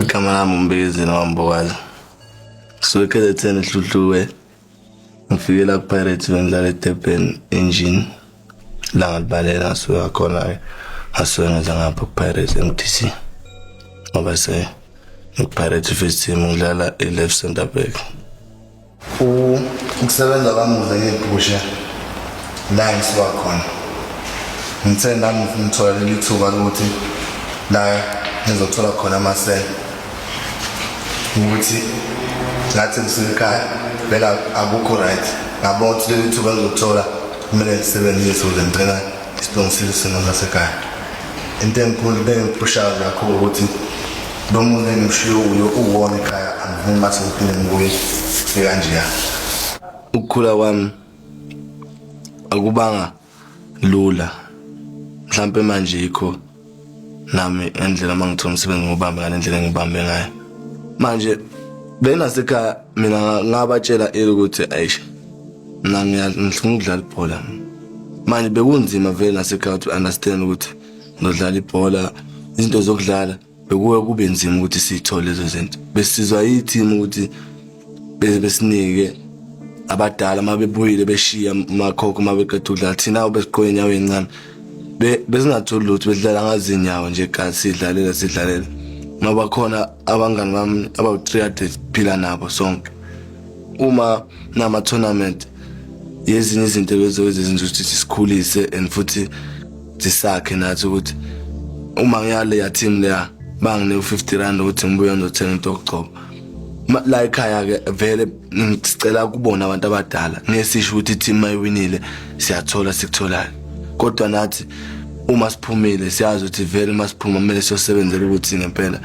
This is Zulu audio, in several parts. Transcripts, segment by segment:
igama lami umbizi nowambokazi ngisuke kzn ehluthuwe ngifikela kupirates bengidlala edurban engine la ngalibalela ngasuke ngakhona-ke ngasuke ngeza ngapha kupirates mdc ngoba se ngikupirates first team ngidlala i-left center back ukusebenza kwamuze ngephusha la ngisuka khona ngithe nami ngithola leli thuba lokuthi la ngizothola khona amasela ukuthi ngathi ngisikhaya vele akukho right ngabona ukuthi leli thuba ngizothola kumele ngisebenzise ukuze ngicela isilungisile isimo sasekhaya into enkulu bengipushayo kakhulu ukuthi Nomuntu engimshiye uyo uwona ekhaya angifuni mathi ngiphinde ngibuye ekanjeya. Ukukhula kwami akubanga lula. Mhlampe manje ikho nami endlela mangithola umsebenzi ngobambe ngale ndlela engibambe ngayo. Manje bena sekhaya mina ngabatshela ukuthi ayisha mina ngiyadlala ukudlala ibhola manje bekunzima vele nasekhaya to understand ukuthi nodlala ibhola izinto zokudlala bekuwe kube nzima ukuthi siyithole lezo zinto besizwa yithimu ukuthi besinike abadala uma bebuyile beshiya makhokho uma beqeda ukudlala thina obesiqoke inyawo encane besingatholi lutho besidlala ngazinyawo nje gazi sidlalela sidlalela uma bakhona abangani bami abawu-three hundred phila nabo sonke uma nama-tournament yezinye izinto lezo ezizenza ukuthi sikhulise and futhi sisakhe nathi ukuthi uma ngiyale ya team leya bangine u50 rand ukuthi ngibuye ngizothenga into yokugcoba la ekhaya ke vele ngicela kubona abantu abadala ngesisho ukuthi team mayiwinile siyathola sikutholayo kodwa nathi uma siphumile siyazi ukuthi vele uma siphuma kumele siyosebenzela ukuthi ngempela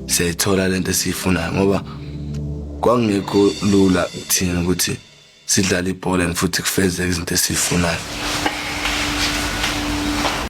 siyayithola lento esiyifunayo ngoba kwangekho lula kuthina ukuthi sidlale ibhola and futhi kufezeke izinto esizifunayo